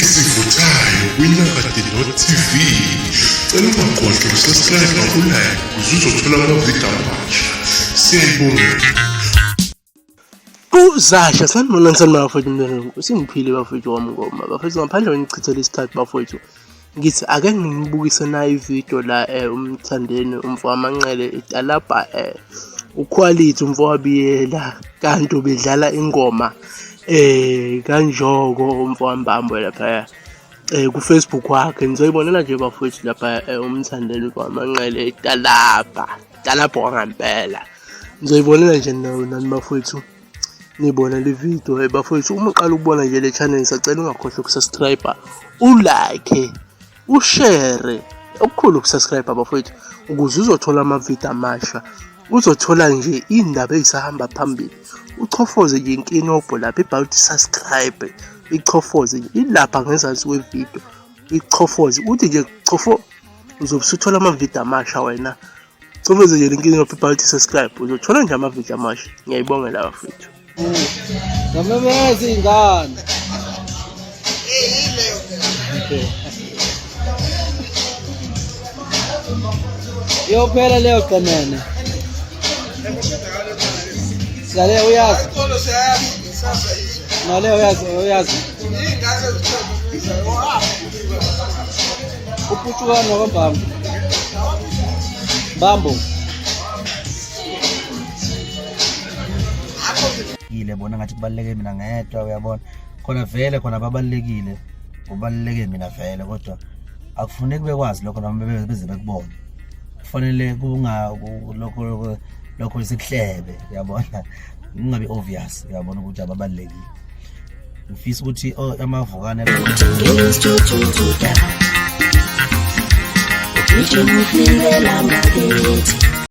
ezivuthayo kwinyakade.tv cela ungakhohlwa ukusubscribe ngakulike ukuze uzothola amavidiyo amasha siyayibongela uzasha sanibonani sanibona bafowethu mntwana usingiphile bafowethu wamngoma bafowethu ngaphandle kwenichithela isikhathi bafowethu ngithi ake nginibukise nayo ividiyo la um umthandeni umfo wamanqele italabha um ukhwalithi umfo wabiyela kanti ubedlala ingoma eh kanjoko umfowambambo laphaya eh kufacebook wakhe nizoyibonela nje bafowethu lapha eh, umthandeni kwamanqele italabha talabha wangampela nizoyibonela nje nani bafowethu nibona le video hey bafowethu uma uqala ukubona nje le channel ngisacela ungakhohlwa ukusubscribe ulike ushere okukhulu ukusubscribe abafowethu ukuze uzothola amavidiyo amasha uzothola nje iy'ndaba ey'sahamba phambili uchofoze nje inkinobho lapho ibhala ukuthi subscribe uyichofoze nje ilapha ngezansi kwevidiyo uyichofoze uthi nje chofo uzobe usuthola amavidiyo amasha wena Coveze nje lenkinga yophepha lithi subscribe uzothola nje amavidiyo amasha ngiyayibongela bafethu ngamemeza iy'ngane iyophela leyo qemene sale uyazi nale uyazi uyazi Uputshukani wakabambo. Bambo. Yile bona ngathi kubaluleke mina ngedwa uyabona. Khona vele khona babalekile. Kubaluleke mina vele kodwa akufuneki bekwazi lokho noma beze bekubone. Kufanele kunga lokho lokho isikuhlebe uyabona. Kungabi obvious uyabona ukuthi ababalekile. ngifisa ukuthi oh, amavukane